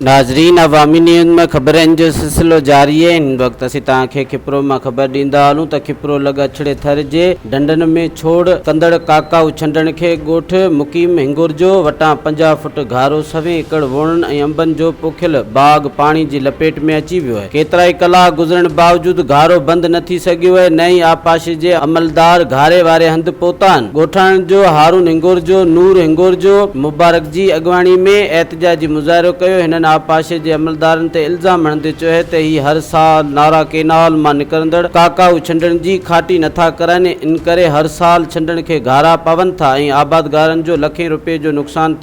ناظرين عوامي نيوز ۾ خبرن جو سلسلو جاري آهي هن وقت اسين توهان کي کپرو مان خبر ڏيندا هلون ته کپرو لڳ اڇڙي ٿر جي ڍنڍن ۾ ڇوڙ ڪندڙ ڪاڪائو ڇنڊڻ کي ڳوٺ مقيم هنڱورجو وٽان پنجاهه فوٽ گهارو سوين ايڪڙ ووڻن ۽ انبن جو پوکيل باغ پاڻي جي لپيٽ ۾ اچي ويو آهي ڪيترائي ڪلاڪ گذرڻ باوجود گهارو بند نه ٿي سگهيو ۽ نه ئي آبپاشي جي عملدار گهاري واري هنڌ پهتا آهن. ڳوٺاڻن جو هارون هنگورجو، نور هنگورجو، مبارڪ جي اڳواڻي ۾ احتجاجي مظاهرو ڪيو، هنن آبپاشي جي عملدارن تي الزام هڻندي چيو اهي ته هي هر سال نارا ڪينال مان نڪرندڙ ڪاڪائو ڇنڊڻ جي کاٽي نه ٿا ڪرن، ان ڪري هر سال ڇنڊڻ کي گهارا پون ٿا ۽ آبادگارن جو لکين روپين جو نقصان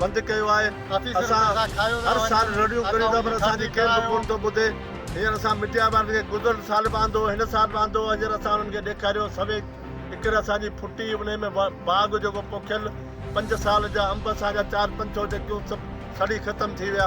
بند ڪيو آهي اسان هر سال رڙيون ڪريون ٿا پر اسان جي ڪير به ڪون ٿو ٻڌي هينئر اسان ميڊيا وارن کي گذريل سال به آندو هن سال به آندو هينئر اسان انهن کي ڏيکاريو سوي اڪر اسان جي ڦٽي انهي ۾ باغ جيڪو پوکيل پنج سال جا انب اسان جا چار پنج سو جيڪيون سڀ سڙي ختم ٿي ويا